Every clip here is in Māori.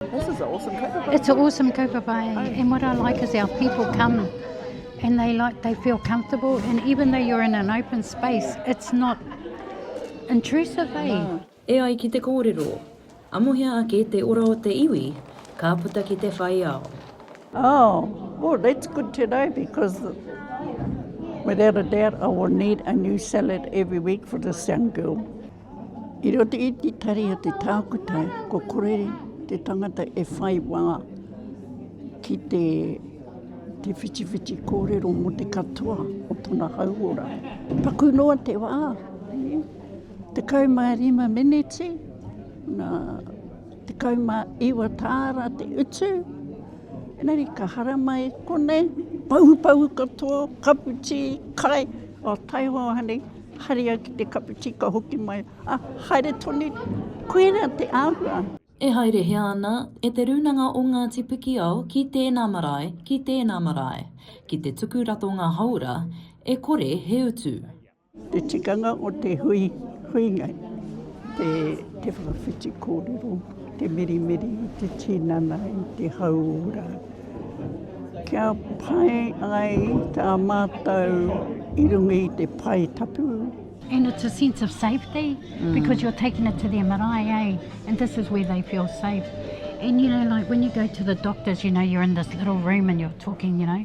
This is an awesome kaupapa. It's an awesome kaupapa. Eh? And what I like is our people come and they like they feel comfortable and even though you're in an open space, it's not intrusive, eh? No. E ai ki te kōrero, amohia ake te ora o te iwi, ka puta ki te whai ao. Oh, well, that's good to know because without a doubt I will need a new salad every week for this young girl. I roto i te tari o te tākuta, ko kore te tangata e whai wā ki te, te whitiwhiti kōrero mō te katoa o tona hauora. Paku noa te wā, te kau mā rima miniti, nā, te kau mā iwa tāra te utu, enari ka haramai konei, pau pau katoa, kapu tī, kai, o taihoa hanei, Haria ki te kapu ti ka hoki mai, a, haere tonu, koira te ahua. E haerehia ana e Te Rūnanga o Ngāti Pikiao ki tēnā marae, ki tēnā marae, ki te tuku ratonga hauora e kore he utu. Te tikanga o te hui, huinga, te, te whakawhiti kōrero. Te mirimiri i te tinana i te hauora. Kia pai ai tā mātou i runga i te pae tapu. And it's a sense of safety mm. because you're taking it to their marae, eh? And this is where they feel safe. And you know, like when you go to the doctors, you know, you're in this little room and you're talking, you know,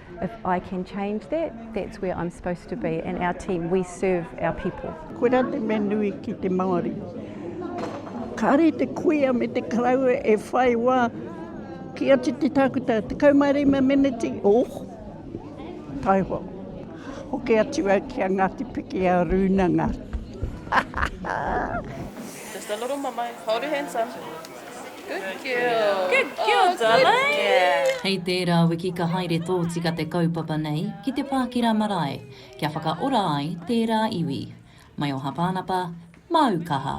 If I can change that, that's where I'm supposed to be. And our team, we serve our people. Koira te mea nui ki te Māori. Kāre te kuia me te karaua e whai wā ki atu te tākuta. Te kaumare ma meneti, oh, taiho. Hoke atu au ki a Ngāti Piki a Rūnanga. Just a little mama, hold your hands up. Good girl. Good girl, darling. Hei tērā wiki ka haere tōtika te kaupapa nei ki te Pākira Marae kia whakaora ai tērā iwi. Mai o Hapānapa, māu kaha!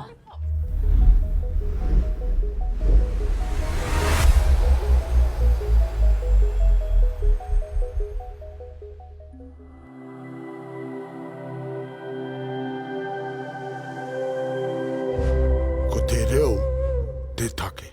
Ko te reo te take.